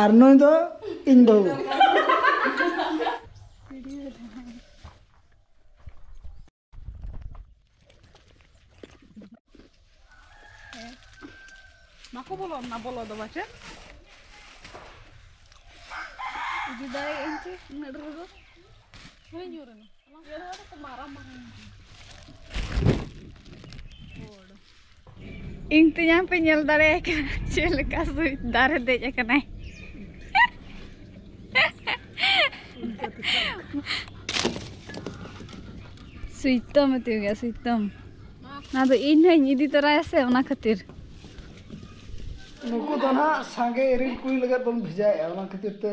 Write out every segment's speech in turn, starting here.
ᱟᱨ ᱱᱩᱭ ᱫᱚ ᱤᱧ ᱵᱟᱹᱦᱩ ᱵᱟᱠᱚ ᱵᱚᱞᱚᱜ ᱱᱟ ᱵᱚᱞᱚ ᱫᱚ ᱵᱟᱪᱮ ᱤᱫᱤ ᱫᱟᱲᱮᱭᱟᱜ ᱟᱹᱧ ᱪᱮ ᱩᱱᱟᱹᱜ ᱰᱷᱮᱨ ᱫᱚ ᱦᱳᱭ ᱧᱩᱨᱮᱱᱟ ᱤᱧ ᱛᱮᱧᱟᱝ ᱯᱮ ᱧᱮᱞ ᱫᱟᱲᱮᱭᱟᱭ ᱠᱟᱱᱟ ᱪᱮᱫ ᱞᱮᱠᱟ ᱥᱩᱭ ᱫᱟᱨᱮ ᱫᱮᱡ ᱟᱠᱟᱱᱟᱭ ᱥᱩᱭᱛᱚᱢ ᱢᱮᱛᱮ ᱜᱮᱭᱟ ᱥᱩᱭᱛᱚᱢ ᱚᱱᱟ ᱫᱚ ᱤᱧ ᱦᱚᱸᱧ ᱤᱫᱤ ᱛᱚᱨᱟᱭᱟ ᱥᱮ ᱚᱱᱟ ᱠᱷᱟᱹᱛᱤᱨ ᱱᱩᱠᱩ ᱫᱚ ᱱᱟᱦᱟᱜ ᱥᱟᱸᱜᱮ ᱤᱨᱤᱞ ᱠᱩᱭ ᱞᱟᱹᱜᱤᱫ ᱵᱚᱱ ᱵᱷᱮᱡᱟᱭᱮᱫᱼᱟ ᱚᱱᱟ ᱠᱷᱟᱹᱛᱤᱨ ᱛᱮ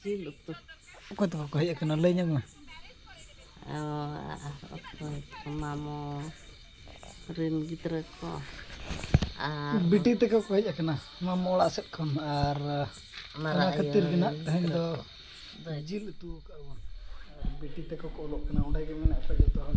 ᱡᱤᱞ ᱩᱛᱩ ᱚᱠᱚᱭ ᱛᱟᱠᱚ ᱠᱚ ᱦᱮᱡ ᱟᱠᱟᱱᱟ ᱞᱟᱹᱭ ᱧᱚᱜ ᱢᱮ ᱚᱠᱚᱭ ᱢᱟᱢᱚ ᱨᱮᱱ ᱜᱤᱫᱽᱨᱟᱹ ᱠᱚ ᱟᱨ ᱵᱤᱴᱤ ᱛᱮᱠᱚ ᱠᱚ ᱦᱮᱡ ᱟᱠᱟᱱᱟ ᱢᱟᱢᱚ ᱚᱲᱟᱜ ᱥᱮᱫ ᱠᱷᱚᱱ ᱟᱨ ᱚᱱᱟ ᱠᱷᱟᱹᱛᱤᱨ ᱜᱮ ᱱᱟᱜ ᱛᱮᱦᱮᱧ ᱫᱚ ᱡᱤᱞ ᱩᱛᱩ ᱟᱠᱟᱫ ᱵᱚᱱ ᱵᱤᱴᱤ ᱛᱮᱠᱚ ᱠᱚ ᱚᱞᱚᱜ ᱠᱟᱱᱟ ᱚᱸᱰᱮ ᱜᱮ ᱢᱮᱱᱟᱜ ᱠᱚᱣᱟ ᱡᱚᱛᱚ ᱦᱚᱲ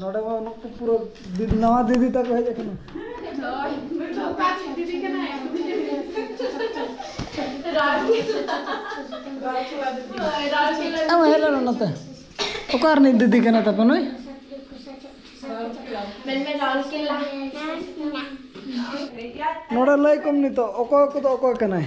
ᱱᱚᱰᱮ ᱢᱟ ᱩᱱᱟᱹᱜ ᱠᱚ ᱯᱩᱨᱟᱹ ᱱᱟᱣᱟ ᱫᱤᱫᱤ ᱛᱟᱠᱚ ᱦᱮᱡ ᱟᱠᱟᱱᱟ ᱟᱢ ᱦᱮᱡ ᱞᱮᱱᱟ ᱱᱚᱛᱮ ᱚᱠᱟ ᱨᱤᱱᱤᱡ ᱫᱤᱫᱤ ᱠᱟᱱᱟ ᱛᱟᱯᱮ ᱱᱩᱭ ᱱᱚᱰᱮ ᱞᱟᱹᱭ ᱠᱚᱢ ᱱᱤᱛᱚᱜ ᱚᱠᱚᱭ ᱠᱚᱫᱚ ᱚᱠᱚᱭ ᱠᱟᱱᱟᱭ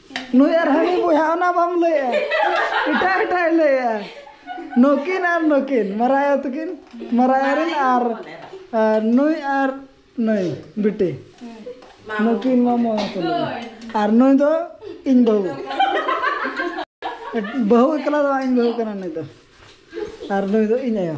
ᱱᱩᱭ ᱟᱨ ᱦᱟᱹᱱᱤ ᱵᱚᱭᱦᱟ ᱚᱱᱟ ᱵᱟᱢ ᱞᱟᱹᱭᱟ ᱮᱴᱟᱜ ᱮᱴᱟᱜ ᱞᱟᱹᱭᱟ ᱱᱩᱠᱤᱱ ᱟᱨ ᱱᱩᱠᱤᱱ ᱢᱟᱨᱟᱭᱟ ᱛᱟᱹᱠᱤᱱ ᱢᱟᱨᱟᱭᱟ ᱨᱮᱱ ᱟᱨ ᱱᱩᱭ ᱟᱨ ᱱᱩᱭ ᱵᱤᱴᱤ ᱱᱩᱠᱤᱱ ᱢᱟᱢᱚ ᱟᱨ ᱱᱩᱭ ᱫᱚ ᱤᱧ ᱵᱟᱹᱦᱩ ᱵᱟᱹᱦᱩ ᱮᱠᱞᱟ ᱫᱚ ᱵᱟᱝ ᱤᱧ ᱵᱟᱹᱦᱩ ᱠᱟᱱᱟ ᱱᱩᱭ ᱫᱚ ᱟᱨ ᱱᱩᱭ ᱫᱚ ᱤᱧ ᱟᱭᱳ